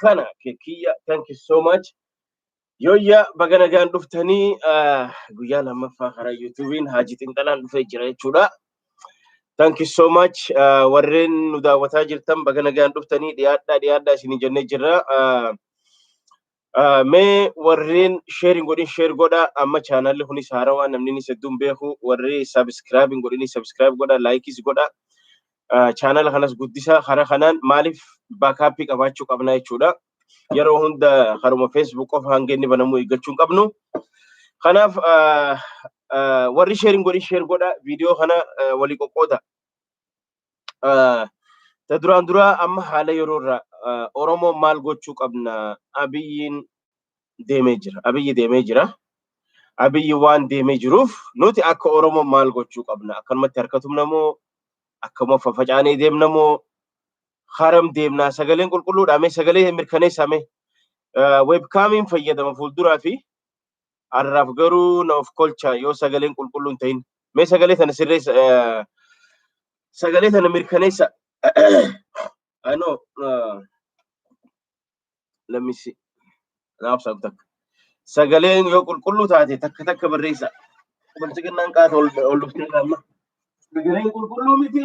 kana kekiyya thank you so much yoyya baga nagaan dhuftanii ah, guyyaa lammaffaa karaa yuutuubiin haaji xinxalaan dhufee jira jechuudha thank you so much Ah, warreen nu daawwataa jirtan baga nagaan dhuftanii dhiyaadhaa dhiyaadhaa isinii jennee jirra Ah, Ah, Mee warreen share hin godhin share godha amma chaanaalli kunis haarawaa namni inni hedduun beeku warri subscribe hin godhin subscribe godha laikis godha Ah, chaanaala kanas guddisa karaa kanaan maaliif baakaappii qabaachuu qabna jechuudha yeroo hunda karuma facebook qofa hanga inni banamuu eeggachuu hin qabnu kanaaf ah, ah, warri share hin godhin share godha viidiyoo kana ah, walii qoqqooda ta duraan duraa amma haala yeroo irraa Oromoo maal gochuu qabna abiyyiin deemee jira. Abiyyi deemee jira. Abiyyi waan deemee jiruuf nuti akka Oromoo maal gochuu qabna akkanumatti harka tumna moo akkuma fafacaanee deemna moo haram deemnaa sagaleen qulqulluudhaa mee sagalee mirkaneessaa mee webkaamiin fayyadama fuulduraa fi Har'aaf garuu na of kolchaa yoo sagaleen qulqulluun ta'in. Mee sagalee sana sirreessa. eh, Sagalee sana mirkaneessa. I know. Uh, let me see. Naaf saab takka. Sagaleen yoo qulqulluu taate takka takka barreessa. Bilchiginnaan qaata ol ol dhuftee amma. Sagaleen qulqulluu miti.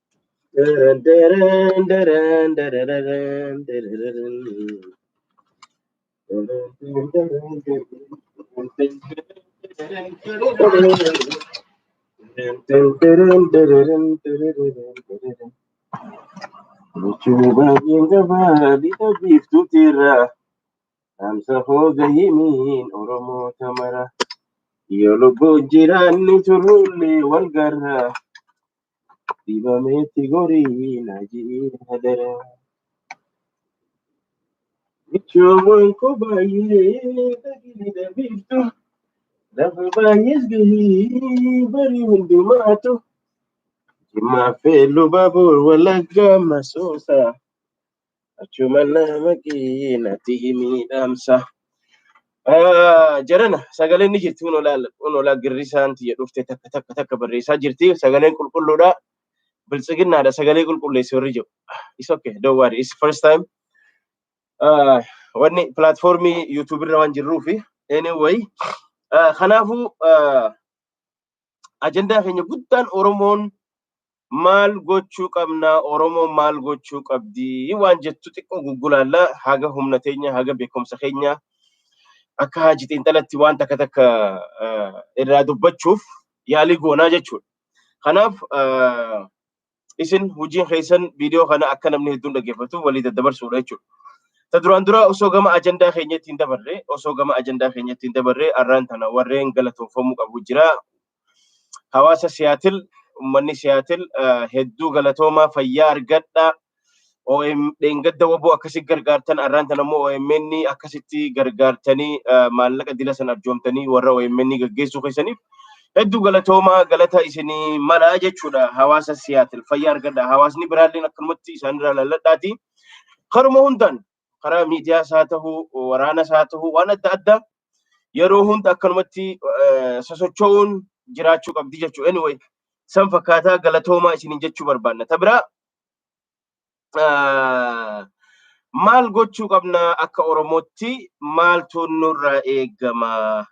Namsa hoo gahimiin Oromoo tamara yoo lubbuun jiraanni turullee wal garra. Dibameetti gorii na ji'i hadara. Michoowwan ko baay'ee dhagni dhabiiftu. Lafa baay'ees gahii barii hundumaatu. Jimmaa fe'ee luba boor walaggaa masoosa. Achuma nama keenyatti himiidhaamsa. Ah, Jarana sagaleen ni jirti kun olaa kun olaa girrisaan tiyya dhufte takka takka takka barreessaa jirti sagaleen qulqulluudha biltsiginnaadha sagalee qulqulleessi warri jiru. It's okay don't worry it's first time. Ah, Wanni pilaatfoormii yuutuubii irra waan jirruufi anyway ah, kanaafuu ah, ajandaa keenya guddaan Oromoon maal gochuu qabnaa Oromoon maal gochuu qabdii waan jettu xiqqoo guggulaalla haga humna teenya haga beekumsa keenya akka haaji xiinxalatti waan takka takka irraa dubbachuuf yaalii goonaa jechuudha. Kanaaf isin hojiin keessan viidiyoo kana akka namni hedduun dhaggeeffatu walii daddabarsuudha jechuudha. Ta duraan dura osoo gama ajandaa keenyatti hin dabarre osoo gama ajandaa keenyatti hin dabarre arraan tana warreen galatoomfamuu qabu jira. Hawaasa Siyaatil ummanni Siyaatil hedduu galatoomaa fayyaa argadha. OM dheengadda waboo akkasi gargaartan arraan tan ammoo OMN akkasitti gargaartanii maallaqa dila san arjoomtanii warra OMN gaggeessuu keessaniif hedduu galatoomaa galata isinii malaa jechuudha hawaasa siyaatil fayyaa argadha hawaasni biraalleen akkanumatti isaanirraa lalladhaati karuma hundaan karaa miidiyaa isaa ta'uu waraana isaa ta'uu waan adda addaa yeroo hunda akkanumatti sosocho'uun jiraachuu qabdi jechuudha anyway san fakkaataa galatoomaa isiniin jechuu barbaanna ta biraa maal gochuu qabna akka Oromootti maaltu nurraa eegama?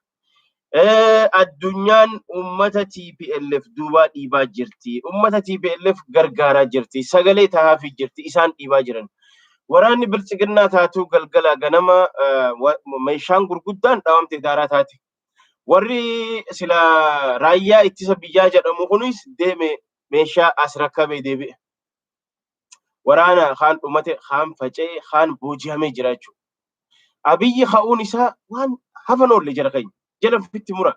Addunyaan uummata TPLF duubaa dhiibaa jirti. Uummata TPLF gargaaraa jirti. Sagalee tahaafii jirti. Isaan dhiibaa jiran. Waraanni biltsiginnaa taatuu galgala ganama meeshaan gurguddaan dhaawamte daaraa taate. Warri sila raayyaa ittisa biyyaa jedhamu kunis deeme meeshaa as rakkabee deebi'e. Waraanaa kaan dhumate, kaan faca'e, kaan booji'amee jira jechuudha. Abiyyi ka'uun isaa waan hafan oolle jara keenya. Jala fitti mura.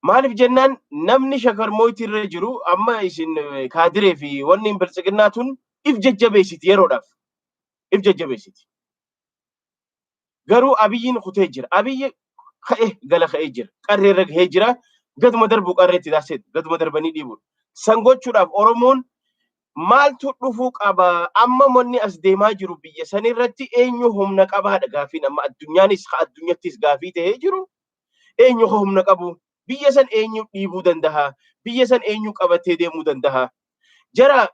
Maaliif jennaan namni shakar mooyitii irra jiru amma isin kaadiree fi wanni biltsiginnaa tun if jajjabeessiti yeroodhaaf. If jajjabeessiti. Garuu Abiyyiin kutee jira. Abiyyi ka'e gala ka'ee jira. Qarree irra gahee jira. Gaduma darbu qarreetti daasee gaduma darbanii dhiibuudha. San gochuudhaaf Oromoon maaltu dhufuu qaba? Amma manni as deemaa jiru biyya san irratti eenyu humna qabaadha gaafiin amma addunyaanis ka addunyattis gaafii ta'ee jiru. Eenyu ka humna qabu? Biyya san eenyu dhiibuu danda'a? Biyya san eenyu qabatee deemuu danda'a? Jara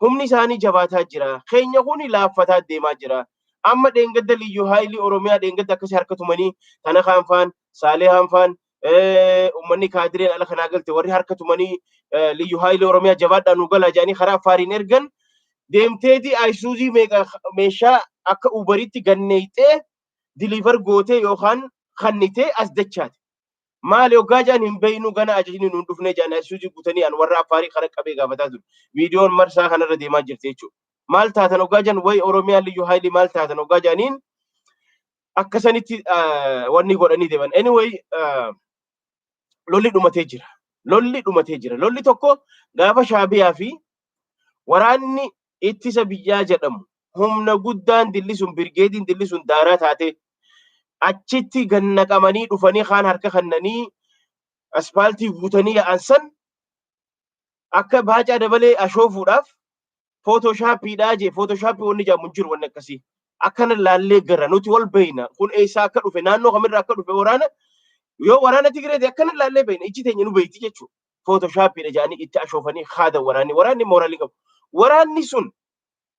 Humni isaanii jabaataa jira. Keenya kuni laaffataa deemaa jira. Amma dheengadda Liyyuu Haayilii Oromiyaa dheengadda akkasii harka tumanii Tanakaan faan, Saalehaan faan, ummanni kaadireen ala kanaa galte warri harka tumanii Liyyuu Haayilii Oromiyaa jabaadhaa nu galaa jedhanii karaa Affaariin ergan deemteeti Ayisuuzii meeqa meeshaa akka Uubariitti ganneeyxee diliivar gootee yookaan kannitee as dachaate. Maali hoggaa jedhan hin beeknu gana ajajni nuun dhufnee jedhan Aysuuzii guutanii an warra Affaarii kara qabee gaafataa ture. Viidiyoon marsaa kanarra deemaa jirti jechuudha. Maal taatan hoggaa jedhan wayi Oromiyaa Liyyuu Haayilii maal taatan hoggaa jedhaniin akka sanitti wanni godhanii deeman. Anyway lolli dhumatee jira. Lolli dhumatee jira. Lolli tokko gaafa Shaabiyaa fi waraanni ittisa biyyaa jedhamu humna guddaan dillisuun birgeediin dillisuun daaraa taatee achitti gad naqamanii dhufanii kaan harka kannanii aspaaltii guutanii yaa'an san akka baacaa dabalee ashoofuudhaaf footoshaappiidhaa jee footoshaappi wanni jedhamu hin jiru wanni akkasii akkana laallee gara nuti wal beeyna kun eessaa akka dhufe naannoo kamirraa akka dhufe waraana yoo waraana Tigireeti akkana laallee beeyna ijji teenya nu beeyti jechuudha footoshaappiidha jedhanii itti ashoofanii haadan waraanni waraanni mooraalii qabu. Waraanni sun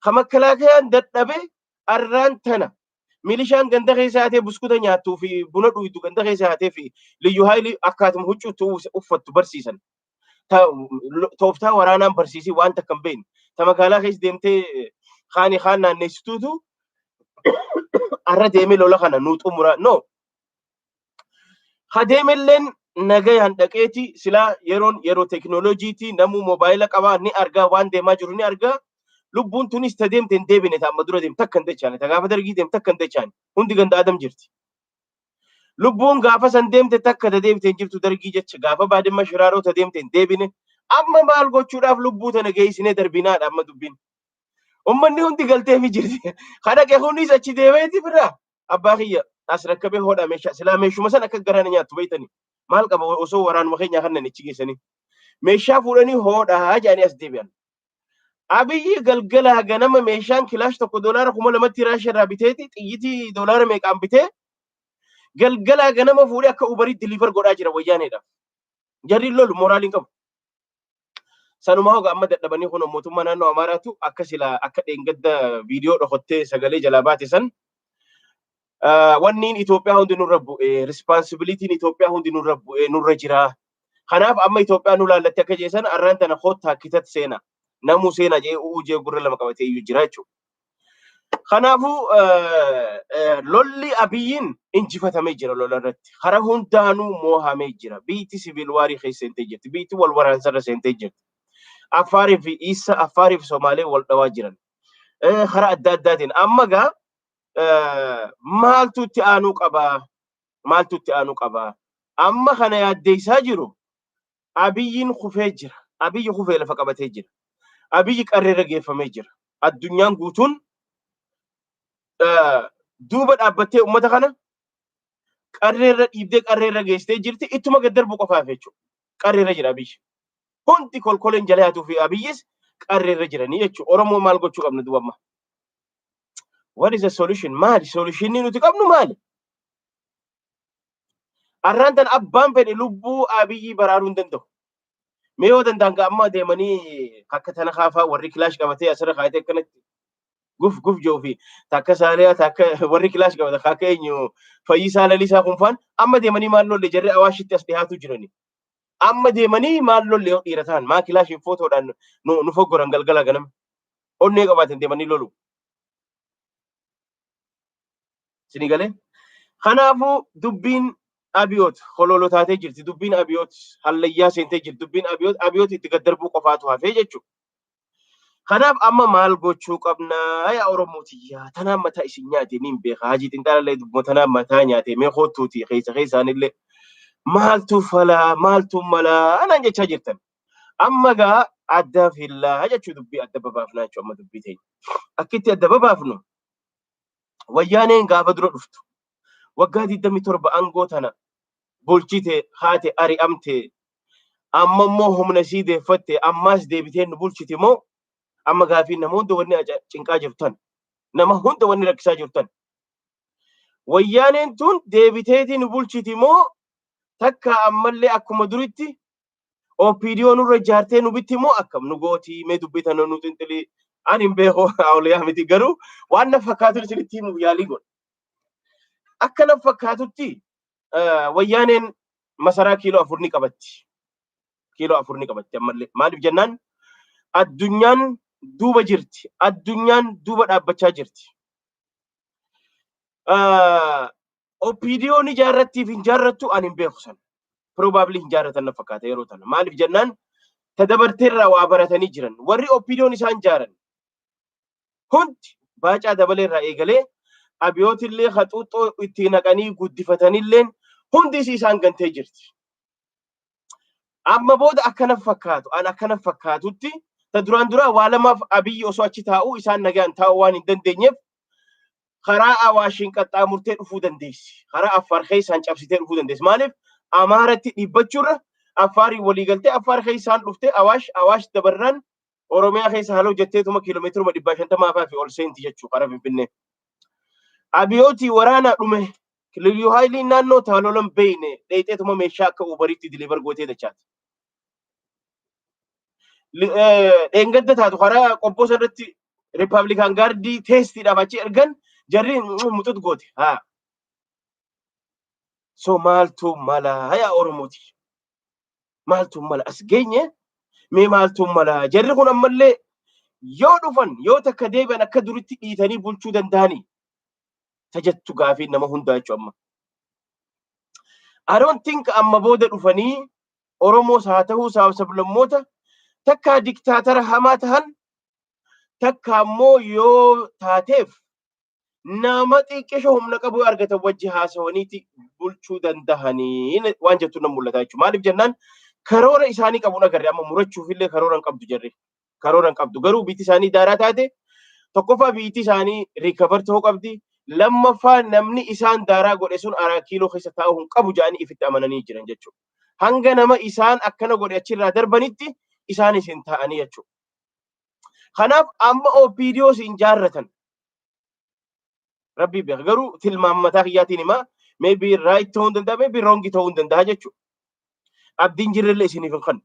kan makkalaakayaan dadhabe arraan tana milishaan ganda keessa haatee buskuta nyaattuu fi buna dhuydu ganda keessa haatee fi liyyu haayilii akkaatuma huccuutti uffattu barsiisan. Tooftaa waraanaan barsiisii waan takka hin beekne. Ta magaalaa keessa deemtee kaanii kaan naanneessituutu arra deemee lola kana nuu xumura. No! Hadeemelleen nagayaan dhaqeeti silaa yeroon yeroo teknooloojiiti namuu moobaayila qabaa ni argaa waan deemaa jiru ni argaa lubbuun tunis ta deemte hin deebine ta amma dura deemte takka hin dachaane ta gaafa dargii deemte takka hin dachaane hundi ganda adam jirti. Lubbuun gaafa san deemte takka ta deebite hin jirtu dargii jecha gaafa baadimma shiraaroo ta deemte hin deebine amma maal gochuudhaaf lubbuu tana geessinee darbinaadha amma dubbiin. Ummanni hundi galteefi jirti. Kadhaqe kunis achi deemeeti birraa abbaa kiyya as rakkabee hodhaa meeshaa silaa meeshuma san akka garaa na nyaattu beeytanii maal qaba osoo waraanuma keenyaa kannan ichi geessanii meeshaa fuudhanii hodhaa jedhanii as deebi'an. Abiyyi galgalaa ganama meeshaan kilaash tokko doolaara kuma lamatti raasha irraa biteeti xiyyitii doolaara meeqaan bitee galgalaa ganama fuudhee akka ubarii diliivar godhaa jira wayyaaneedhaaf. Jarri lolu moraaliin qabu. Sanumaa hoga amma dadhabanii kun mootummaa naannoo Amaaraatu akka sila akka dheengadda viidiyoo dhokottee sagalee jalaa baate san wanniin Itoophiyaa hundi nurra bu'ee rispaansibilitiin Itoophiyaa hundi nurra bu'ee nurra jiraa. Kanaaf amma Itoophiyaa nu laallatti akka jeesan arraan tana koottaa kitatti seena namuu seena jee u'uu jee gurra lama qabatee iyyuu jira jechuudha. Kanaafuu lolli Abiyyiin injifatamee jira lola irratti. Karaa hundaanuu moohamee jira. Biyyiti siviil waarii keessa seentee jirti. Biyyiti wal waraansarra seentee jirti. Affaarii fi Iissa, Affaarii fi Somaalee wal dhawaa jiran. Karaa adda addaatiin. Amma gaa maaltu itti aanuu qabaa? Maaltu itti aanuu qabaa? Amma kana yaaddeessaa jiru Abiyyiin kufee jira. Abiyyi kufee lafa qabatee jira. Abiyyi qarreerra geeffamee jira. Addunyaan guutuun duuba dhaabbattee uummata kana qarreerra dhiibdee qarreerra geessitee jirti. Ittuma gad darbu qofaaf jechuudha. Qarreerra jira Abiyyi. Hundi kolkoleen jala haatuu fi Abiyyis qarreerra jiranii jechuudha. Oromoo maal gochuu qabna duuba amma? What is the solution? Maali? Solutionii nuti qabnu maali? Arraan tan abbaan fedhe lubbuu Abiyyii baraaruu hin danda'u. Mee yoo danda'an gaa amma deemanii akka tana kaafaa warri kilaash qabatee asirra kaayatee akkanatti guf guf jiru fi takka saaliyaa takka warri kilaash qabata akka eenyu fayyisaa lalisaa kun faan amma deemanii maal lolle jarri awaashitti as dhiyaatu jirani. Amma deemanii maal lolle yoo dhiira ta'an maa kilaashiin footoodhaan nu nu foggoran galgala ganama. Onnee qabaatan deemanii lolu. Isinii galee? Kanaafuu dubbiin Abiyoot holoolo taatee jirti. Dubbiin Abiyoot hallayyaa seentee jirti. Dubbiin Abiyoot Abiyoot itti gad darbuu qofaatu hafee jechuudha. Kanaaf amma maal gochuu qabnaa yaa Oromoo tiyyaa tanaan mataa isin nyaate niin beeka hajii xinxaalallee dubbuma tanaan mataa nyaate mee koottuuti keessa keessaanillee maaltu falaa maaltu malaa anaan jechaa jirtan. Amma gaa adda fillaa jechuu dubbii adda babaafnaa jechuu amma dubbii teenya. Akkitti adda babaafnu Wayyaaneen gaafa dura dhuftu waggaa 27 aangoo tana bulchite haate ari'amte amma immoo humna isii deeffatte ammaas deebitee nu bulchiti moo amma gaafiin nama hunda wanni aja- cinqaa jirtan nama hunda wanni rakkisaa jirtan wayyaaneen tun deebiteetii nu bulchiti moo takka ammallee akkuma duritti OPDO nurra ijaartee nu bitti immoo akkam nu gootii mee dubbii tana nu xinxilii ani hin beeku awliyaa miti garuu waan na fakkaatu isinitti himuuf yaalii godha. Akka na fakkaatutti wayyaaneen masaraa kiiloo afur ni qabatti. Kiiloo afur ni qabatti ammallee. Maaliif jennaan addunyaan duuba jirti. Addunyaan duuba dhaabbachaa jirti. OPDOn ijaarrattiif hin jaarrattu ani hin beeku sana. Probably hin jaarratan na fakkaata yeroo tana. Maaliif jennaan ta dabarteerraa waa baratanii jiran. Warri OPDOn isaan jaaran hundi baacaa dabaleerraa eegalee abiyootillee haxuuxxoo itti naqanii guddifatanilleen hundis isaan gantee jirti. Amma booda akka naf fakkaatu an akka naf fakkaatutti ta duraan duraa waa lamaaf Abiyyi osoo achi taa'uu isaan nagaan taa'uu waan hin dandeenyeef karaa Awaashiin qaxxaamurtee dhufuu dandeessi. Karaa Affaar keessaan cabsitee dhufuu dandeessi. Maaliif Amaaratti dhibbachuurra Affaariin walii galtee Affaar keessaan dhuftee Awaash Awaash dabarraan Oromiyaa keessa haloo jetteetuma kiiloomeetiruma dhibbaa shantamaa fa'aa fi ol seenti jechuu karaa Finfinnee. Abiyootii waraanaa dhume Liyyuu Haayiliin naannoo taalolan beeyne dheeyxeetuma meeshaa akka uubariitti diliivar gootee dachaati. Dheengadda taatu karaa qobboo sanarratti Rippaabilikaan gaardii teestiidhaaf achi ergan jarri muxut goote. Haa. So maaltu mala yaa Oromooti. Maaltu mala as geenye mee maaltu mala jarri kun ammallee yoo dhufan yoo takka deebi'an akka duritti dhiitanii bulchuu danda'anii ta jettu gaafii nama hundaa jechu amma. I don't think amma booda dhufanii Oromoos haa ta'uu saaba sablammoota takkaa diktaatara hamaa tahan takka ammoo yoo taateef nama xiqqisho humna qabu argatan wajji haasawaniiti bulchuu dandahanii waan jettu nan mul'ata jechuudha. Maaliif jennaan karoora isaanii qabuun agarre amma murachuuf illee karoora hin qabdu jarri. karoora hin qabdu. Garuu biitti isaanii daaraa taate tokkoffaa biitti isaanii riikavar ta'uu qabdi. Lammaffaa namni isaan daaraa godhe sun araa kiiloo keessa taa'uu hin qabu jedhanii ifitti amananii jiran jechuudha. Hanga nama isaan akkana godhe achirraa darbanitti isaanis hin taa'anii jechuudha. Kanaaf amma OPDOs hin jaarratan. Rabbii beeka. Garuu tilmaama mataa kiyyaatiin himaa maybe right ta'uu hin danda'a maybe wrong ta'uu hin danda'a jechuudha. Abdiin jirrellee isiniif hin kennu.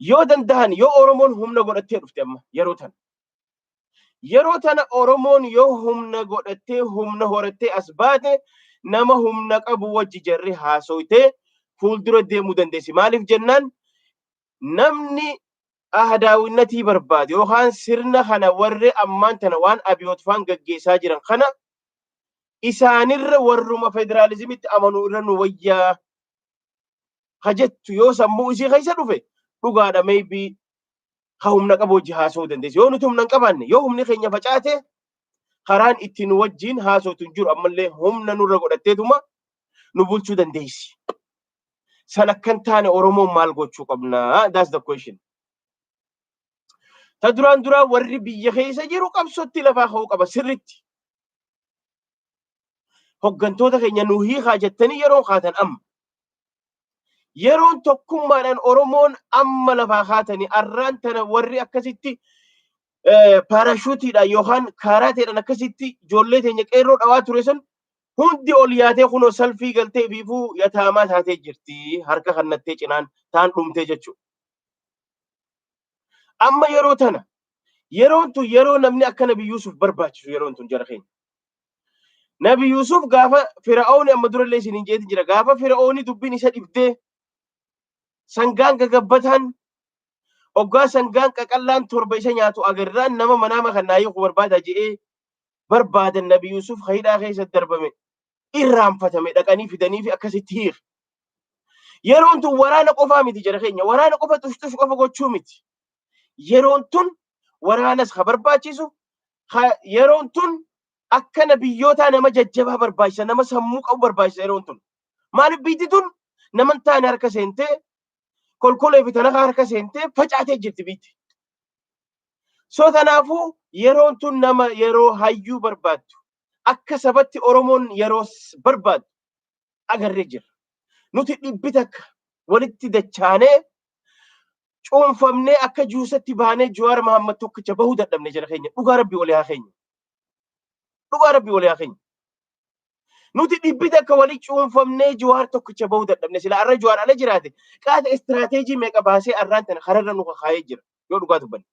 Yoo danda'an yoo Oromoon humna godhattee dhufte amma yeroo tana. Yeroo tana Oromoon yoo humna godhattee humna horattee as baate nama humna qabu wajji jarri haasoytee fuuldura deemuu dandeessi. Maaliif jennaan namni ahadaawinnatii barbaade yookaan sirna kana warri ammaan tana waan abiyoot faan gaggeessaa jiran kana isaanirra warruma federaalizimitti amanuu irra nu wayyaa ka jettu yoo sammuu isii keessa dhufe dhugaadha maybe ka humna qabu wajji haasa'uu dandeessi. Yoo nuti humna hin qabaanne yoo humni keenya facaate karaan itti nu wajjin haasootu hin jiru ammallee humna nurra godhatteetuma nu bulchuu dandeessi. San akkan taane Oromoon maal gochuu qabnaa? That's the question. Ta duraan duraa warri biyya keessa jiru qabsootti lafaa ka'uu qaba sirritti. hoggantoota keenya nu hiikaa jettanii yeroo kaatan amma. Yeroon tokkummaadhaan Oromoon amma lafaa kaatanii arraan tana warri akkasitti paarashuutiidhaan yookaan kaaraateedhaan akkasitti ijoollee teenya qeerroo dhawaa ture sun hundi ol yaatee kunoo salfii galtee fiifuu yataamaa taatee jirti harka kannattee cinaan taan dhumtee jechuudha. Amma yeroo tana yeroon tun yeroo namni akka Nabi Yuusuf barbaachisu yeroon tun jara keenya. Nabi Yuusuf gaafa Fira'ooni amma durallee isin hin jeetin jira gaafa Fira'ooni dubbiin isa dhibdee sangaan gagabbataan oggaa sangaan qaqallaan torba isa nyaatu agarraan nama manaama kan naa hiiku barbaada je'ee barbaadan Nabi Yuusuf hidhaa keessa darbame irraanfatame dhaqanii fidanii fi akkasitti hiir. Yeroon tun waraana qofaa miti jara keenya. Waraana qofa tushtush qofa gochuu miti. Yeroon tun waraanas ka barbaachisu yeroon tun akkana biyyootaa nama jajjabaa barbaachisa nama sammuu qabu barbaachisa yeroon tun. Maaliif biyyi tun naman taane harka seentee kolkolee fi talakaa harka seentee facaatee jirti biyyi. So kanaafuu yeroon tun nama yeroo hayyuu barbaaddu akka sabatti Oromoon yeroos barbaaddu agarree jirra. Nuti dhibbi takka walitti dachaanee cuunfamnee akka juusatti baanee Jawaar Mahaammad tokkicha bahuu dadhabne jara keenya. Dhugaa Rabbi walii haa keenya. Dhugaa Rabbi walii haa keenya. Nuti dhibbi takka walii cuunfamnee Jawaar tokkicha bahuu dadhabne sila arra Jawaar ala jiraate qaata istiraateejii meeqa baasee arraan tana kararra nu kakaayee jira yoo dhugaa dubbanne.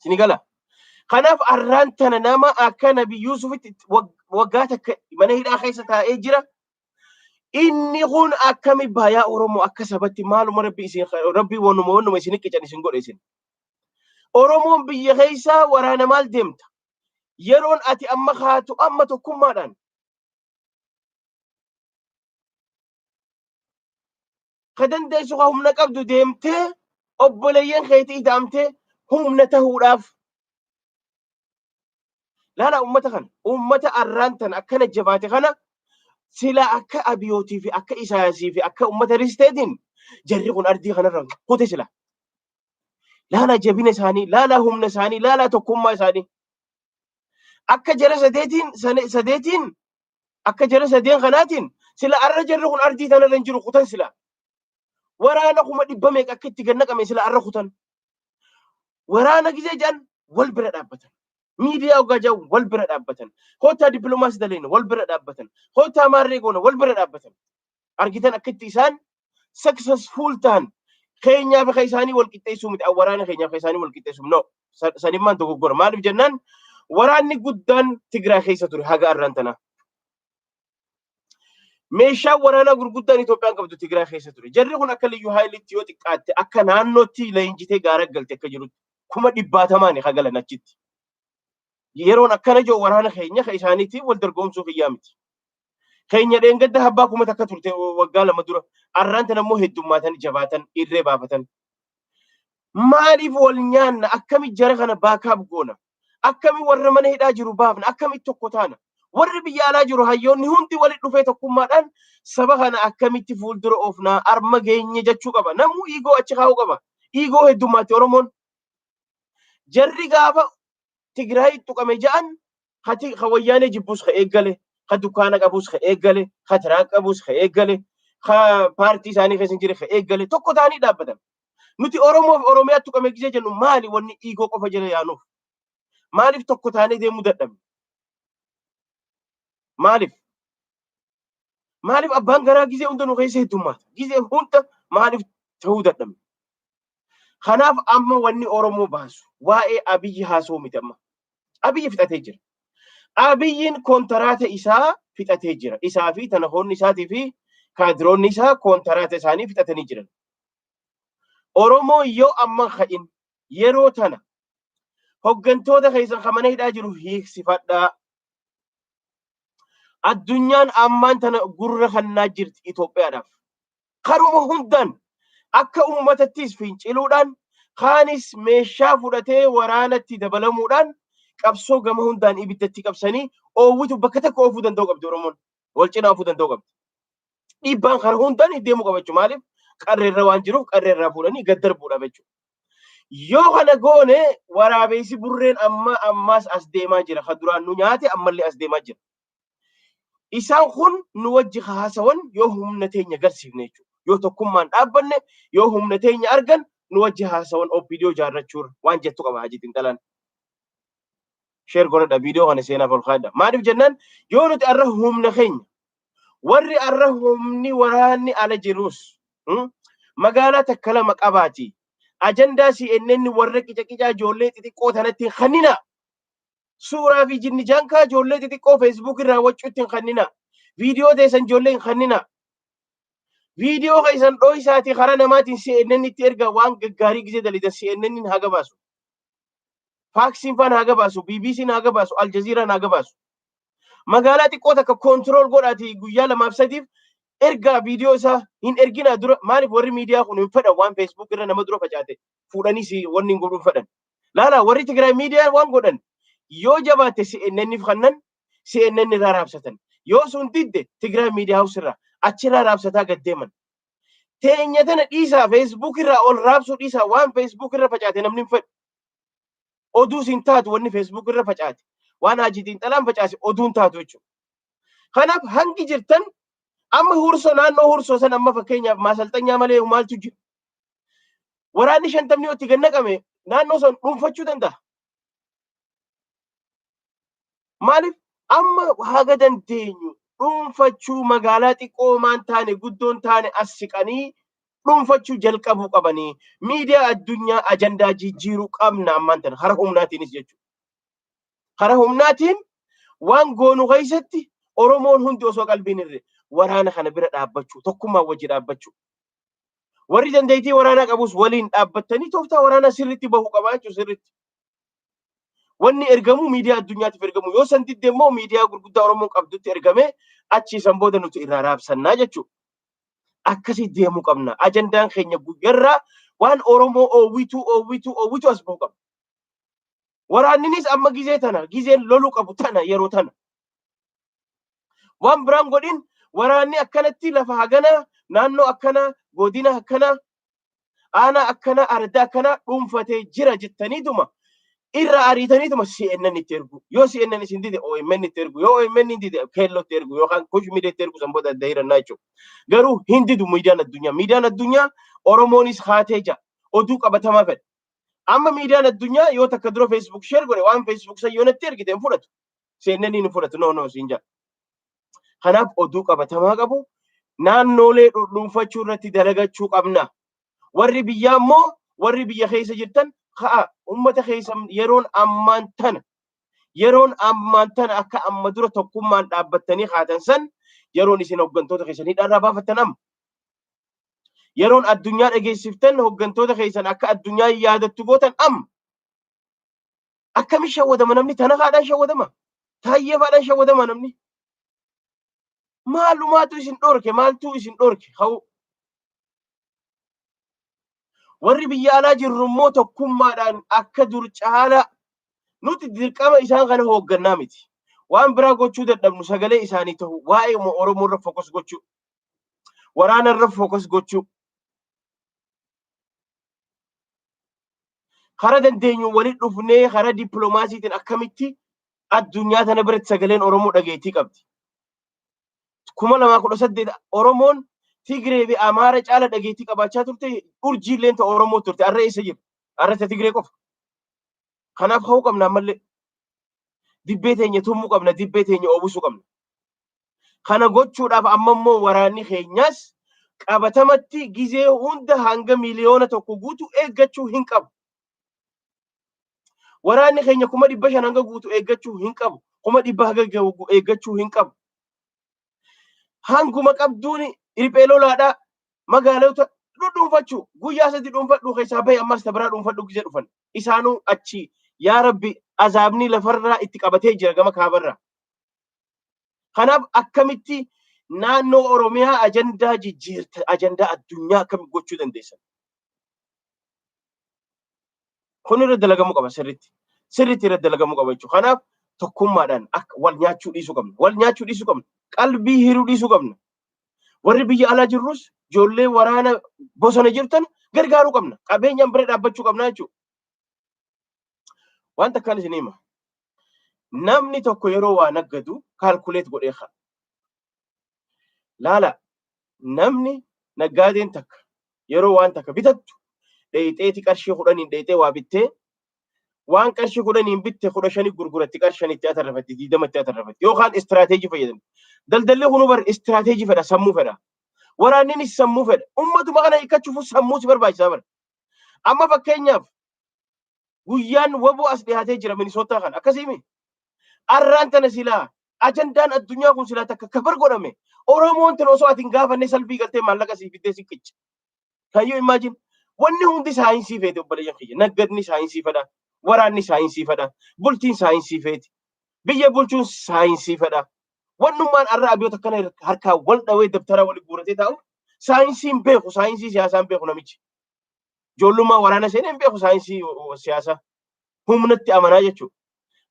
Sini gala. Kanaaf arraan tana nama akka Nabi Yuusufitti waggaa takka mana hidhaa keessa taa'ee jira. Inni kun akkami baayaa Oromoo akka sabatti maaluma rabbi isin rabbi wanuma wanuma isin qichan isin godhe isin. Oromoon biyya keessaa waraana maal deemta? Yeroon ati amma kaatu amma tokkummaadhaan. ka dandeessu ka humna qabdu deemtee obboleeyyan keetii idaamtee humna tahuudhaaf laala ummata kana ummata arraan tan akkana jabaate kana sila akka abiyootii fi akka isaayasii fi akka ummata risteetiin jarri kun ardii kanarra kute sila laala jabina isaanii laala humna isaanii laala tokkummaa isaanii akka jara sadeetiin sadeetiin Akka jara sadeen kanaatiin sila arra jarri kun ardii tanarra hin jiru kutan sila. Waraana kuma dhibba meeqa akka itti gannaqame sila arra kutan. Waraana gizee jedhan wal bira dhaabbatan. Miidiyaa ogaa jedhan wal bira dhaabbatan. Kottaa dippiloomaasii daleena wal bira dhaabbatan. Kottaa maarree goona wal bira dhaabbatan. argitan akka itti isaan successful ta'an keenyaaf akka isaanii wal qixxeessuu miti waraana keenyaaf akka isaanii wal qixxeessuu no sanimmaan dogoggora maaliif jennaan waraanni guddaan Tigiraa keessa ture haga arraan tana. Meeshaan waraanaa gurguddaan Itoophiyaan qabdu Tigiraa keessa ture. Jarri kun akka liyyuu haayilitti yoo xiqqaatte akka naannootti leenjitee gaara galte akka jirutti kuma dhibbaatamaani hagalan achitti. yeroon akkana jiru waraana keenya kan isaaniitiin wal dorgomsuu kiyyaa miti. Keenya dheengadda habbaa kuma takka turte waggaa lama dura arraan tan ammoo heddummaatan jabaatan irree baafatan. Maaliif wal nyaanna akkami jara kana baakaaf goona akkami warra mana hidhaa jiru baafna akkami tokko taana warri biyya alaa jiru hayyoonni hundi walitti dhufee tokkummaadhaan saba kana akkamitti fuuldura oofnaa arma geenye jechuu qaba namuu iigoo achi kaa'uu qaba iigoo heddummaatti oromoon Jarri gaafa Tigraay tuqame ja'an ka ti- ka wayyaanee jibbus ka eeggale, ka dukkaana qabus ka eeggale, ka tiraak qabus ka eeggale, ka paartii isaanii keessa hin jirre ka eeggale tokko ta'anii dhaabbatan. Nuti Oromoo fi Oromiyaa tuqame gisee jennu maali wanni dhiigoo qofa jala yaanuuf? Maaliif tokko taanee deemuu dadhabne? Maaliif? Maaliif abbaan garaa gizee hunda nu keessa heddummaata? Gizee hunda maaliif ta'uu dadhabne? Kanaaf amma wanni Oromoo baasu waa'ee Abiyyi haasoo miti amma. Abiyyi fixatee jira. Abiyyiin koontaraata isaa fixatee jira. Isaa fi tanahoonni isaatii fi kaadiroonni isaa koontaraata isaanii fixatanii jiran. Oromoo yoo amma ka'in yeroo tana hoggantoota keessan kan mana hidhaa jiru hiiksifadhaa. Addunyaan ammaan tana gurra kannaa jirti Itoophiyaadhaaf. Karuma hundaan akka uummatattis finciluudhaan kaanis meeshaa fudhatee waraanatti dabalamuudhaan qabsoo gama hundaan ibiddatti qabsanii oowwitu bakka takka oofuu danda'uu qabdi Oromoon. Wal cinaa oofuu danda'uu qabdi. Dhiibbaan kana hundaan deemuu qaba jechuudha. Maaliif qarreerra waan jiruuf qarreerraa fuudhanii gad darbuudhaaf jechuudha. Yoo kana goone waraabeessi burreen amma ammaas as deemaa jira. Kan duraan nu nyaate ammallee as deemaa jira. Isaan kun nu wajji haasawan yoo humna teenya agarsiifne jechuudha. Yoo tokkummaan dhaabbanne yoo humna teenya argan nu wajji haasawan OPDO jaarrachuurra waan jettu qaba hajii xinxalaan. Sheer godhadha viidiyoo kana seenaaf ol kaadha. Maaliif jennaan yoo nuti har'a humna keenya Warri arra humni waraanni ala jirus hmm, magaalaa takka lama qabaati. Ajandaa CNN warra qicaqicaa ijoollee xixiqqoo tanatti hin kannina. Suuraa fi jinni jankaa ijoollee xixiqqoo Facebook irraa waccuutti hin kannina. Viidiyoo teessan ijoollee hin kannina. Viidiyoo keessan dho'isaati karaa namaatiin CNN itti erga waan gaggaarii gisee dalidan CNN hin haga baasu. Faaksiin faan haga baasu, BBC'n haga baasu, Aljaziiraan haga baasu. Magaalaa xiqqoo takka koontirool godhaatii guyyaa lamaaf sadiif ergaa viidiyoo isaa hin erginaa dura maaliif warri miidiyaa kun hin fedhan waan feesbuuk irra nama dura facaate fuudhanii si wanni hin godhuun fedhan. Laalaa warri Tigraay miidiyaa waan godhan yoo jabaatte CNNif kannan CNN irraa raabsatan. Yoo sun didde Tigraay miidiyaa haus irraa achirraa raabsataa gad deeman. Teenya tana dhiisaa feesbuuk irraa ol raabsuu dhiisaa waan feesbuuk irra facaate namni hin fedhu. Oduus hin taatu wanni Facebook irra facaate. Waan Haajii Xiinxalaan facaase oduu hin taatu jechuudha. Kanaaf hangi jirtan amma huursoo naannoo huursoo san amma fakkeenyaaf maasalxanyaa malee maaltu jira. Waraanni shantamni yoo itti gannaqame naannoo san dhuunfachuu danda'a. Maaliif amma haga dandeenyu dhuunfachuu magaalaa xiqqoo maan taane guddoon taane as siqanii dhuunfachuu jalqabuu qabanii miidiyaa addunyaa ajandaa jijjiiruu qabna ammaan tana hara humnaatiinis jechuudha. Hara humnaatiin waan goonu keessatti Oromoon hundi osoo qalbiin irre waraana kana bira dhaabbachuu tokkummaa wajji dhaabbachuu. Warri dandeettii waraanaa qabus waliin dhaabbattanii tooftaa waraanaa sirriitti bahu qabaa jechuudha sirriitti. Wanni ergamu miidiyaa addunyaatiif ergamu yoo san didde immoo miidiyaa gurguddaa Oromoon qabdutti ergamee achii san booda nuti irraa raabsannaa jechuudha. Akkasii deemuu qabna. Ajandaan keenya guyyarraa waan Oromoo oowwituu oowwituu oowwituu as ba'uu qabna. Waraanninis amma gizee tana gizeen loluu qabu tana yeroo tana. Waan biraan godhin waraanni akkanatti lafa haganaa naannoo akkanaa godina akkanaa aanaa akkanaa ardaa akkanaa dhuunfatee jira jettaniituma irra ariitaniituma CNN itti ergu. Yoo CNN isin dide OMN itti ergu. Yoo OMN hin dide keelloo itti ergu yookaan kush miidiyaa itti ergu san booda adda hirannaa jechuudha. Garuu hin didu miidiyaan addunyaa. Miidiyaan addunyaa Oromoonis haatee jira. Oduu qabatamaa fedha. Amma miidiyaan addunyaa yoo takka dura Facebook share godhe waan Facebook san yoo natti ergite hin fudhatu. CNN hin fudhatu. No no siin jaa. Kanaaf oduu qabatamaa qabu naannoolee dhuunfachuu irratti dalagachuu qabna. Warri biyyaa immoo warri biyya keessa jirtan ka'a uummata keessa yeroon ammaan tana yeroon ammaan tana akka amma dura tokkummaan dhaabbattanii kaatan san yeroon isin hooggantoota keessan hidhaarraa baafattan amma. Yeroon addunyaa dhageessiftan hooggantoota keessan akka addunyaa yaadattu gootan amma. Akkamitti shawwadama namni tana faadhaan shawwadama? Taayyee faadhaan shawwadama namni? Maalumaatu isin dhorke maaltu isin dhorke hawuu? Warri biyya alaa jirru immoo tokkummaadhaan akka dur caalaa nuti dirqama isaan kana hooggannaa miti. Waan biraa gochuu dadhabnu sagalee isaanii ta'u waa'ee Oromoo irra fokus gochuu, waraana irra fokus gochuu, Kara dandeenyu walitti dhufnee kara dippiloomaasiitiin akkamitti addunyaa tana biratti sagaleen Oromoo dhageettii qabdi. Kuma lamaa kudha saddeet Oromoon Tigree fi Amaara caala dhageettii qabaachaa turte urjii illee ta Oromoo turte arra eessa jira? Arra ta Tigree qofa. Kanaaf ka'uu qabna ammallee. Dibbee teenya tummuu qabna, dibbee teenya oobusuu qabna. Kana gochuudhaaf amma immoo waraanni keenyas qabatamatti gizee hunda hanga miliyoona tokko guutu eeggachuu hin qabu. Waraanni keenya kuma dhibba shan hanga guutu eeggachuu hin qabu. Kuma dhibba hanga gahu eeggachuu hin qabu. Hanguma qabduun riphee lolaadhaa magaalota dhudhuunfachuu guyyaa sadi dhuunfadhuu keessaa bahe ammas ta biraa dhuunfadhuu gizee dhufan. Isaanuu achi yaa rabbi azaabni lafarraa itti qabatee jira gama kaabarraa. Kanaaf akkamitti naannoo Oromiyaa ajandaa jijjiirta ajandaa addunyaa akkamitti gochuu dandeessan? Kun irra dalagamuu qaba sirriitti. Sirriitti irra dalagamuu qaba jechuudha. Kanaaf tokkummaadhaan akka wal nyaachuu dhiisuu qabna. Wal nyaachuu dhiisuu qabna. Qalbii hiruu dhiisuu qabna. Warri biyya alaa jirrus ijoollee waraana bosona jirtan gargaaruu qabna. Qabeenyaan bira dhaabbachuu qabna jechuudha. Waan takkaan isin hima. Namni tokko yeroo waa naggadu kaalkuleet godhee ka'a. Laala namni naggaadeen takka yeroo waan takka bitattu dheeyxeeti qarshii kudhaniin dheeyxee waa bittee waan qarshii kudhaniin bitte kudha shanii gurguratti qarshanitti atarrafatti diidamatti atarrafatti yookaan istiraateejii fayyadamti. Daldalli kun bar istiraateejii fedha sammuu fedha. Waraanninis sammuu fedha. Ummatuma kana hiikkachuuf sammuu si barbaachisaa bara. Amma fakkeenyaaf Guyyaan waboo as dhiyaatee jira Minisootaa kana. Akkasii miti. Arraan tana silaa ajandaan addunyaa kun silaa takka kabar godhame Oromoon tana osoo ati hin gaafannee salphii galtee maallaqa siif fiddee siif qicca. Can you imagine? Wanni hundi saayinsii feete obboleeyyan kiyya. Naggadni saayinsii fedha. Waraanni saayinsii fedha. Bultiin saayinsii feeti. Biyya bulchuun saayinsii fedha. Wannummaan arra abiyoota akkana harkaa wal dhawee dabtaraa wal guuratee taa'u saayinsiin beeku saayinsii siyaasaan beeku namichi. Ijoollummaa waraana seenee hin beeku saayinsii siyaasaa. Humnatti amanaa jechuudha.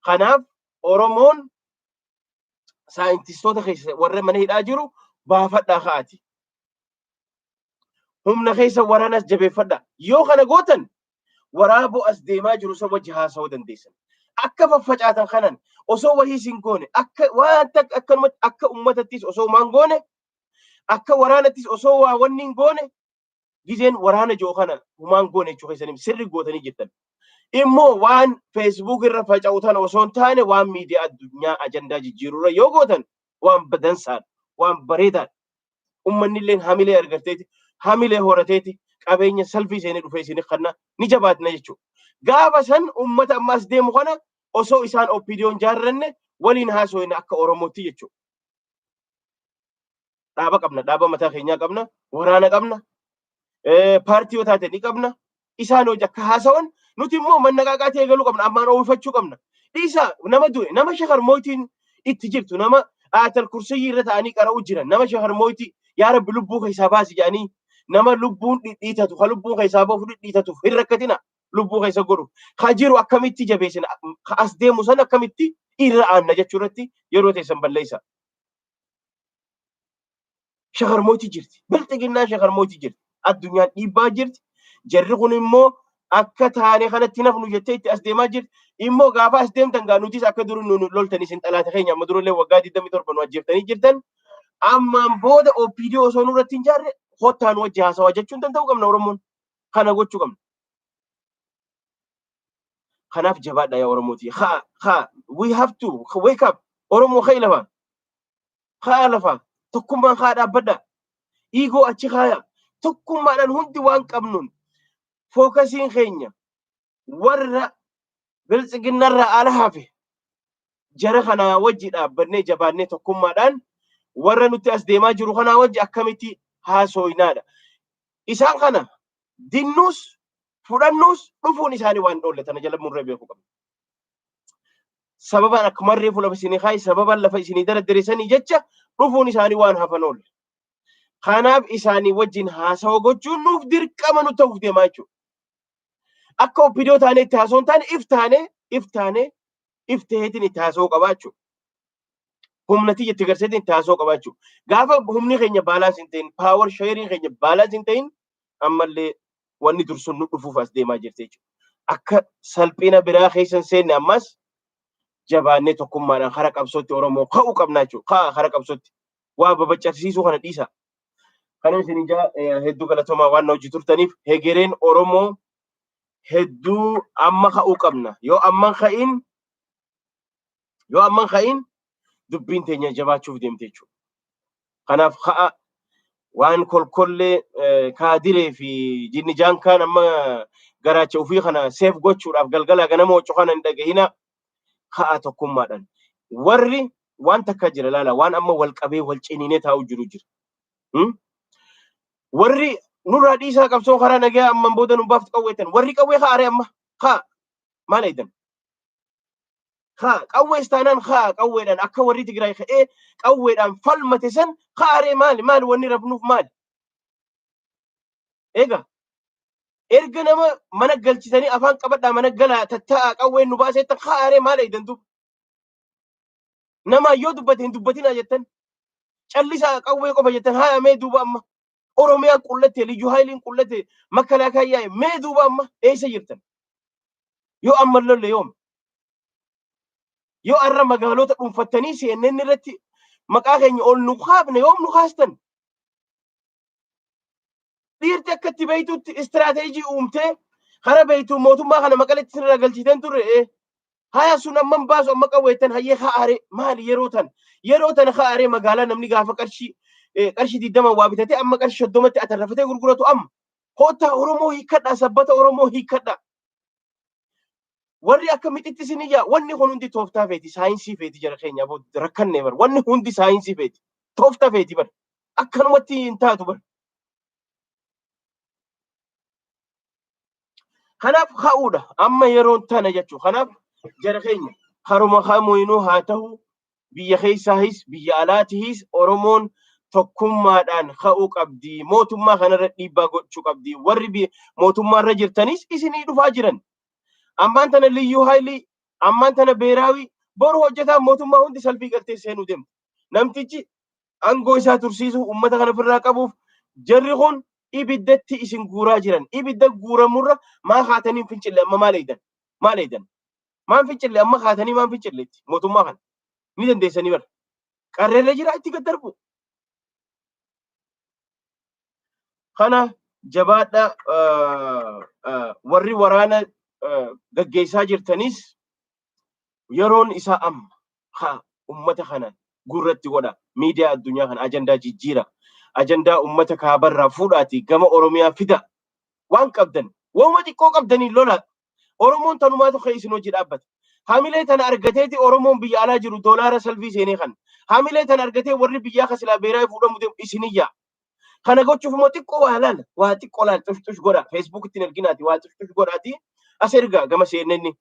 Kanaaf Oromoon saayintistoota keessa warra mana hidhaa jiru baafadhaa ka'aati. Humna keessa waraanas jabeeffadhaa. Yoo kana gootan waraaboo as deemaa jiru san wajji haasa'uu dandeessan. Akka faffacaatan kanan osoo wahii isin goone akka wanta akkanumatti akka uummatattis osoo maan goone akka waraanattis osoo waa wanni hin goone gizeen waraana jiru kana humaan goone jechuu keessaniif sirri gootanii jirtan. Immoo waan Facebook irra faca'u tana osoo hin taane waan miidiyaa addunyaa ajandaa jijjiirurra yoo gootan waan badansaadha, waan bareedaadha. Ummanni illee hamilee argateeti, hamilee horateeti, qabeenya salfii seenee dhufee isin kanna ni jabaatna jechuudha. Gaafa san ummata ammaas deemu kana osoo isaan oppiidiyoon jaarranne waliin haasofne akka Oromootti jechuudha. dhaaba qabna dhaaba mataa keenyaa qabna waraana qabna paartii yoo taate ni qabna isaan hojii akka haasawan nuti immoo mannaqaaqaa ta'ee galuu qabna ammaan oolfachuu qabna dhiisa nama du'e nama shakar mootiin itti jirtu nama aatal kursiyyii irra ta'anii qara'uu jiran nama shakar mootii yaa rabbi lubbuu keessaa baasi jedhanii nama lubbuun dhidhiitatu ka lubbuun keessaa bahu dhidhiitatuuf hin rakkatina lubbuu keessa godhu ka jiru akkamitti jabeessina ka as deemu san akkamitti irra aanna jechuu irratti yeroo teessan balleessa. shakarmooti jirti. Bilxiginnaan shakarmooti jirti. Addunyaan dhiibbaa jirti. Jarri kun immoo akka taane kanatti nafnu jettee itti as deemaa jirti. Immoo gaafa as deemtan gaa nutis akka duri nu loltan isin xalaata keenya amma durallee waggaa 27 nu ajjeeftanii jirtan. Ammaan booda OPD osoo nurratti hin jaarre kottaa nu wajji haasawaa jechuun danda'uu qabna Oromoon. Kana gochuu qabna. Kanaaf jabaadha yaa Oromoo tiyya. Haa haa we have to wake up Oromoo ka'e lafaa. Haa lafaa tokkummaan haa dhaabbadha. Dhiigoo achi kaaya. Tokkummaadhaan hundi waan qabnuun fookasiin keenya warra biltsiginnarraa ala hafe jara kanaa wajji dhaabbannee jabaannee tokkummaadhaan warra nutti as deemaa jiru kanaa wajji akkamitti haasooynaadha. Isaan kana dinnuus fudhannuus dhufuun isaanii waan dhoolle tana jala murree beekuu qabna. Sababaan akka marree fuula isinii kaa'i sababaan lafa isinii daraddiriisanii jecha dhufuun isaanii waan hafan oolle. Kanaaf isaanii wajjin haasawa gochuun nuuf dirqama nu ta'uuf deemaa jechuudha. Akka obbidoo taanee itti haasoo hin taane if taanee if taanee if ta'eetiin itti haasoo qabaa jechuudha. humna tiyya itti garsiiseetiin itti haasoo qabaa jechuudha. Gaafa humni keenya baalaansi hin ta'in, paawar sheeriin keenya baalaansi hin ta'in, ammallee wanni dursuun nu dhufuuf as deemaa jirti jechuudha. Akka salphina biraa keessa hin seenne ammas jabaannee tokkummaadhaan hara qabsootti Oromoo ka'uu qabna jechuudha. Ka'a hara qabsootti. Waa babacarsiisuu kana dhiisa. Kana isin ijaa hedduu galatoomaa waan na hojii turtaniif hegereen Oromoo hedduu amma ka'uu qabna. Yoo amma ka'in Yoo amman ka'iin dubbiin teenya jabaachuuf deemte jechuudha. Kanaaf ka'a waan kolkollee kaadiree fi jinni jaankaan amma garaacha ofii kana seef gochuudhaaf galgalaa ganama waccu kana hin dhagahina ka'a tokkummaadhaan. Warri waan takka jira laala waan amma wal qabee wal ciniinee taa'u jiru jira. Warri nurraa dhiisaa qabsoo karaa nagaa amman booda nu baaftu qawweetan warri qawwee kaa'are amma ka'a maal eedan. haa qawwees taanaan haa qawweedhaan akka warri Tigraay ka'ee qawweedhaan falmate san kaaree maali maali wanni rabnuuf maali. Egaa erga nama mana galchitanii afaan qabadhaa mana galaa tattaa'aa qawween nu baasee tan kaaree maali eegdan duuba. Namaa yoo dubbate hin dubbatinaa jettan callisaa qawwee qofa jettan haayamee duuba amma Oromiyaan qullatte, Liyyuu Haayiliin qullatte, Makalaakaan yaa'e. Mee duuba amma eessa jirtan? Yoo amma lolle yoom? Yoo arra magaalota dhuunfattanii CNN irratti maqaa keenya ol nu kaafne yoom nu kaastan? Dhiirti akka itti beektutti istiraateejii uumtee karaa beektu mootummaa kana maqaletti isin irraa galchiiteen turre. Haya sun amman baasu amma qawweettan hayyee ha'aare maali yeroo tan yeroo tana ha'aare magaalaa namni gaafa qarshii eh, qarshii digdama waa bitatee amma qarshii soddomatti atarrafatee gurguratu amma koottaa Oromoo hiikkadhaa sabbata Oromoo hiikkadhaa. Warri akka mixitti isin iyyaa wanni kun hundi tooftaa feeti saayinsii feeti jara keenya aboo rakkanne bar wanni hundi saayinsii feeti tooftaa feeti bar akkanumatti hin taatu bar. Kanaaf ka'uudha. Amma yeroon tana jechuudha. Kanaaf jara keenya haruma kamuinuu haa ta'u biyya keessaahis biyya alaatihis Oromoon tokkummaadhaan ka'uu qabdi. Mootummaa kanarra dhiibbaa gochuu qabdi. Warri bi- mootummaarra jirtanis isinii dhufaa jiran. Ammaan tana liyyuu haayilii, ammaan tana beeraawii, boru hojjetaan mootummaa hundi salfii galtee seenuu deemti. Namtichi aangoo isaa tursiisuuf uummata kana ofirraa qabuuf jarri kun ibiddatti isin guuraa jiran. Ibidda guuramurra maa kaatanii fincille amma maal eegdan? Maal eegdan? Maan fincille amma kaatanii maan fincille itti mootummaa kana? Ni dandeessanii bara. Qarreerra jira itti gad darbu. Kana jabaadha warri waraana gaggeessaa jirtanis Yeroon isaa amma. Ha ummata kana gurratti godhaa. Miidiyaa addunyaa kana ajandaa jijjiiraa. Ajandaa ummata kaabarraa fuudhaatii gama Oromiyaa fidaa. Waan qabdan wauma xiqqoo qabdaniin lolaa. Oromoon tanumaatu ka'ee isin wajji dhaabbata. Hamilee tana argateeti Oromoon biyya alaa jiru doolaara salfii seenee kana. Hamilee tana argatee warri biyyaa ka silaa beeraayi fuudhamu deemu isinin yaa'a. Kana gochuuf immoo xiqqoo waa laala. Waa xiqqoo laala xush xush godhaa. Feesbuukitti hin erginaatii waa xush xush godhaatii as ergaa gama CNN.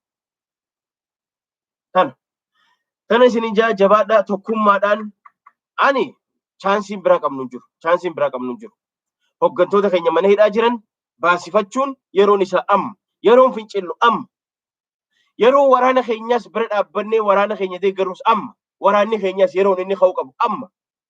Kana. Kana isin ijaa jabaadhaa tokkummaadhaan ani chaansiin biraa qabnu hin jiru. Chaansiin biraa qabnu hin jiru. Hoggantoota keenya mana hidhaa jiran baasifachuun yeroon isaa amma. Yeroon fincillu amma. Yeroo waraana keenyaas bira dhaabbannee waraana keenya deeggarus amma. Waraanni keenyaas yeroon inni ka'uu qabu amma.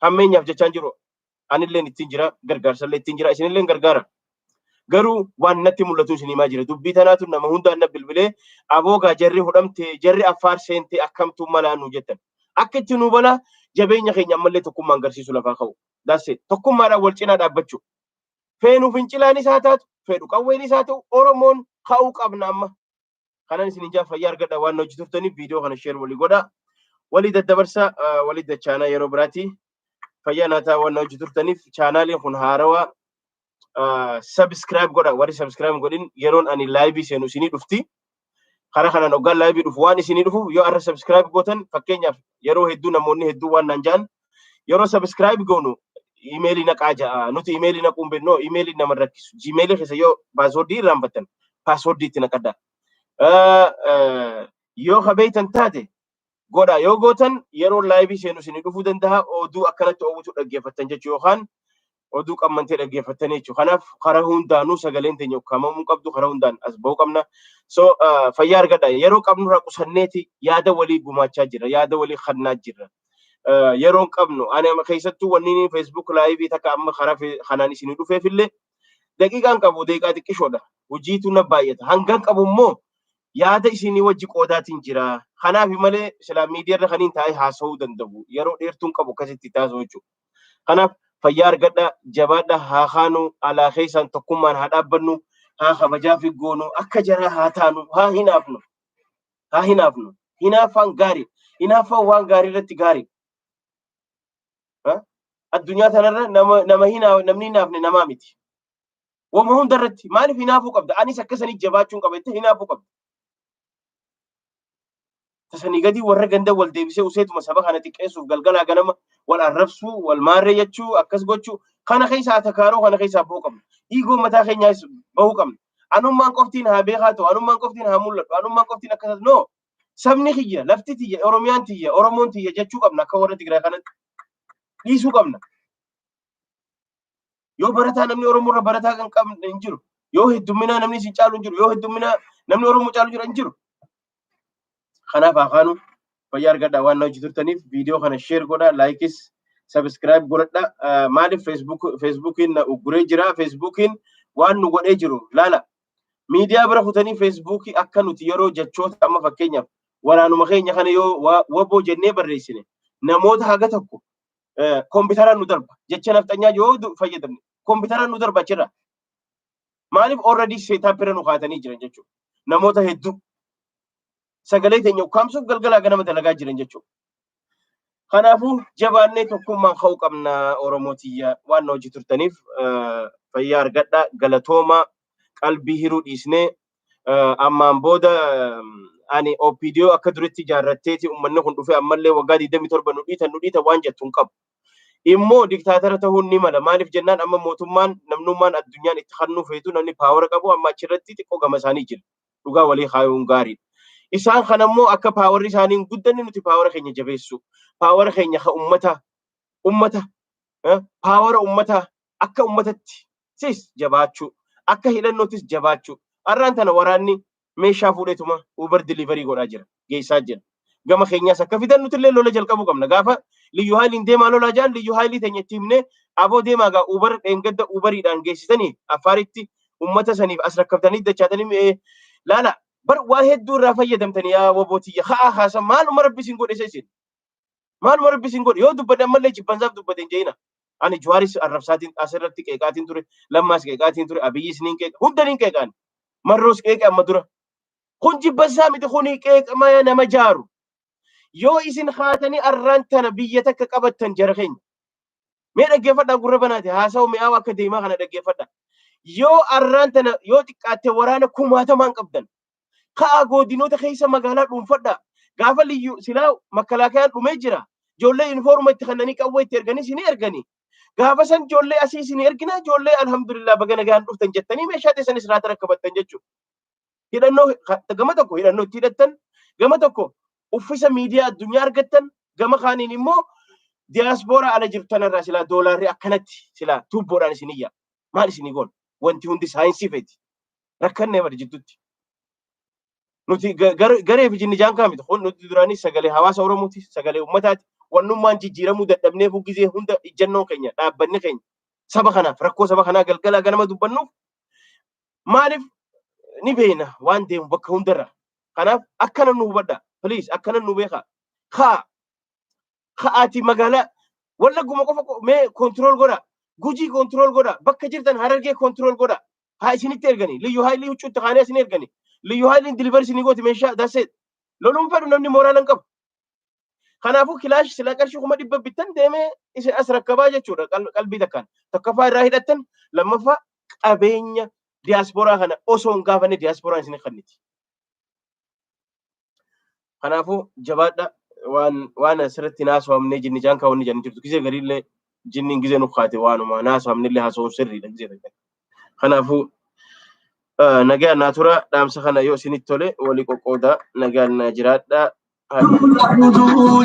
hammeenyaaf jechaan jiru anilleen ittiin jira gargaarsallee ittiin jira isinilleen gargaara. Garuu waan natti mul'atu isin himaa jira dubbii tanaatu nama hundaan na bilbilee aboogaa jarri hudhamte jarri affaar seente akkamtuu malaa nu jettan. Akka itti nu balaa jabeenya keenya ammallee tokkummaan agarsiisu lafaa ka'u. Dasse tokkummaadhaan wal cinaa dhaabbachuu. Feenu fincilaanis haa taatu feedhu qawweenis haa ta'u Oromoon ka'uu qabna amma. kanan isin ijaa fayyaa argadha waan hojii turtaniif viidiyoo kana sheer walii godha walii daddabarsa walii dachaanaa yeroo biraati fayyaa naataa waan hojii turtaniif chaanaaliin kun haarawaa sabiskiraayib godha warri sabiskiraayib godhin yeroon ani laayivii seenu isinii dhufti karaa kanaan hoggaan laayivii dhufu waan isinii dhufu yoo arra sabiskiraayib gootan fakkeenyaaf yeroo hedduu namoonni hedduu waan naan ja'an Yeroo subscribe goonu imeelii naqaa ja'a. Nuti imeelii naquu hin beeknu. Imeeliin nama rakkisu. Gmailii keessa yoo paaswordii irraanfattan paaswordii itti naqadha. Yoo ka beektan taate godha. Yoo gootan yeroo laayivii seenu isin dhufuu danda'a. Oduu akkanatti oowwutu dhaggeeffattan jechuu yookaan oduu qammantee dhaggeeffattanii jechuudha. Kanaaf karaa hundaanuu sagaleen teenya ukkaamamuu qabdu karaa hundaan as ba'uu qabna. So fayyaa argadha. Yeroo qabnurraa qusanneeti yaada walii gumaachaa jirra. Yaada walii kannaa jirra. Yeroon qabnu ani amma keessattuu wanni Facebook laayivii takka amma karaa kanaan isin dhufeef illee daqiiqaan qabu daqiiqaa xiqqishoodha. Hojiitu na baay'ata. Hangan qabu immoo yaada isinii wajji qoodaatiin jira. Kanaaf malee silaa miidiyaarra kaniin taa'ee haasa'uu danda'u. Yeroo dheertuun qabu akkasitti taasisuu jechuudha. Kanaaf fayyaa argadhaa, jabaadhaa, haa kaanu, alaa keessaan tokkummaan haa dhaabbannu, haa kabajaafi goonu, akka jaraa haa taanu, haa hinaafnu, haa hinaafnu. Hinaaffaan gaari. Hinaaffaan waan gaarii irratti gaari. Addunyaa tanarra nama nama hinaa namni hinaafne namaa miti. Wama hunda irratti maaliif hinaafuu qabda? Anis akkasanii jabaachuun qaba jettee hinaafuu qabda. Tasanii gadii warra ganda wal deebisee useetuma saba kana xiqqeessuuf galgalaa ganama wal arrabsuu, wal maarree jechuu, akkas gochuu kana keessaa atakaaroo kana keessaa ba'uu qabna. Dhiigoo mataa keenyaas bahuu qabna. Anummaan qoftiin haa beekaa ta'u, anummaan qoftiin haa mul'adhu, anummaan qoftiin akkas no sabni kiyya, lafti tiyya, Oromiyaan tiyya, Oromoon tiyya jechuu qabna akka warra Tigraay kanatti dhiisuu qabna. Yoo barataa namni Oromoo irra barataa kan qabne hin jiru. Yoo heddumminaa namni isin caalu hin jiru. Yoo heddumminaa namni Oromoo caalu jira hin jiru. Kanaaf akaanuu fayyaa argadhaa waan na hojii turtaniif viidiyoo kana sheer godhaa laayikis sabiskiraayib godhadha. Maaliif feesbuukiin na ugguree jira feesbuukiin waan nu godhee jiru laala. Miidiyaa bira kutanii feesbuukii akka nuti yeroo jechoota amma fakkeenyaaf waraanuma keenya kana yoo waboo jennee barreessine namoota haga tokko kompiitaraan nu darba jecha nafxanyaa yoo fayyadamne kompiitaraan nu darba achirra maaliif already seetaap irra nu kaatanii jiran jechuudha namoota hedduu sagalee keenya ukkaamsuuf galgalaa ganama dalagaa jiran jechuudha. Kanaafuu jabaannee tokkummaan ka'uu qabna Oromoo tiyya waan hojii turtaniif fayyaa argadhaa galatoomaa qalbii hiruu dhiisnee ammaan booda ani OPDO akka duritti ijaarratteeti uummanni kun dhufee ammallee waggaa 27 nu dhiita nu dhiita waan jettu hin qabu. Immoo diktaatara ta'uun ni mala. Maaliif jennaan amma mootummaan namnummaan addunyaan itti hannuu feetu namni paawara qabu amma achirratti xiqqoo gama isaanii jira. Dhugaa walii kaayuun gaariidha. Isaan kana immoo akka paawarri isaanii hin guddanne nuti paawara keenya jabeessu. Paawara keenya ka ummata ummata paawara ummata akka ummatatti sis jabaachuu akka hidhannootis jabaachuu arraan tana waraanni meeshaa fuudheetuma uber delivery godhaa jira geessaa jira gama keenyaas akka fidan nutillee lola jalqabuu qabna gaafa liyyu haayiliin deemaa lolaa jaan liyyu haayilii teenya itti himnee aboo deemaa gaa uber dheengadda uberiidhaan geessitanii affaaritti ummata saniif as rakkabtanii dachaatanii laala bar waa hedduu irraa fayyadamtanii yaa waboo tiyya ka'aa kaasa maaluma rabbi isin godhe isin Maaluma rabbi isin godhe yoo dubbate ammallee jibbansaaf dubbate hin je'ina. Ani Juwaaris arrabsaatiin asirratti qeeqaatiin ture, lammaas qeeqaatiin ture, Abiyyis niin qeeqa, hunda niin qeeqaan. Marroos qeeqe amma dura. Kun jibbansaa miti kuni qeeqamaya nama jaaru. Yoo isin haatanii arraan tana biyya takka qabattan jara keenya. Mee dhaggeeffadhaa gurra banaati haasawa mi'aawa akka deemaa kana dhaggeeffadhaa. Yoo arraan tana yoo xiqqaatte waraana kumaatamaan qabdan Ka'aa goodinoota keessa magaalaa dhuunfadhaa. Gaafa liyyu silaa makkalaakayaan dhumee jira. Ijoollee yunifoorma itti kannanii qawwee itti erganii isin erganii. Gaafa san ijoollee asii isin erginaa ijoollee alhamdulillah baga nagaan dhuftan jettanii meeshaa teessan isin haata rakkabattan jechuudha. Hidhannoo gama tokko hidhannoo itti hidhattan gama tokko uffisa miidiyaa addunyaa argattan gama kaaniin immoo diyaaspooraa ala jirtu tanarraa silaa doolaarri akkanatti silaa tuubboodhaan isin iyya. Maal isinii goon? Wanti hundi saayinsii feeti. rakkannee bari jidduutti. Nuti ga- gar- garee fi jinni jaan kaamiti. Kun nuti duraanii sagalee hawaasa Oromooti, sagalee uummataati. Wannummaan jijjiiramuu dadhabnee buggizee hunda ijjannoon keenya, dhaabbanni keenya saba kanaaf rakkoo saba kanaa galgalaa ganama dubbannuuf maaliif ni beekna waan deemu bakka hundarra. Kanaaf akkana nu hubadha. Please akkana nu beekaa. Haa ka'aati magaalaa wallagguma qofa qo- mee kontirool godha. Gujii kontirool godha. Bakka jirtan harargee kontirool godha. haa isinitti ergani liyyu haayilii huccuu itti kaanee isin ergani liyyu haayiliin dilivari isinii gooti meeshaa dasee loluun fedhu namni mooraa nan qabu kanaafuu kilaash silaa qarshii kuma dhibba bittan deemee isin as rakkabaa jechuudha qal- qalbii takkaan tokkoffaa irraa hidhattan lammaffaa qabeenya diyaasporaa kana osoo hin gaafanne diyaasporaan isin hin kanniti Kanaafuu jabaadha waan waan asirratti naasofamnee jinni jaan kaawwanni jaan jirtu gizee gariillee jinniin gizee nu kaate waanuma naasofamnillee haasawuun sirriidha gizee gariillee. Kanaafuu eh, nagaan naa tura dhaamsa kana yoo isinitti tole walii qoqqoodaa nagaan naa jiraadha. Haadha.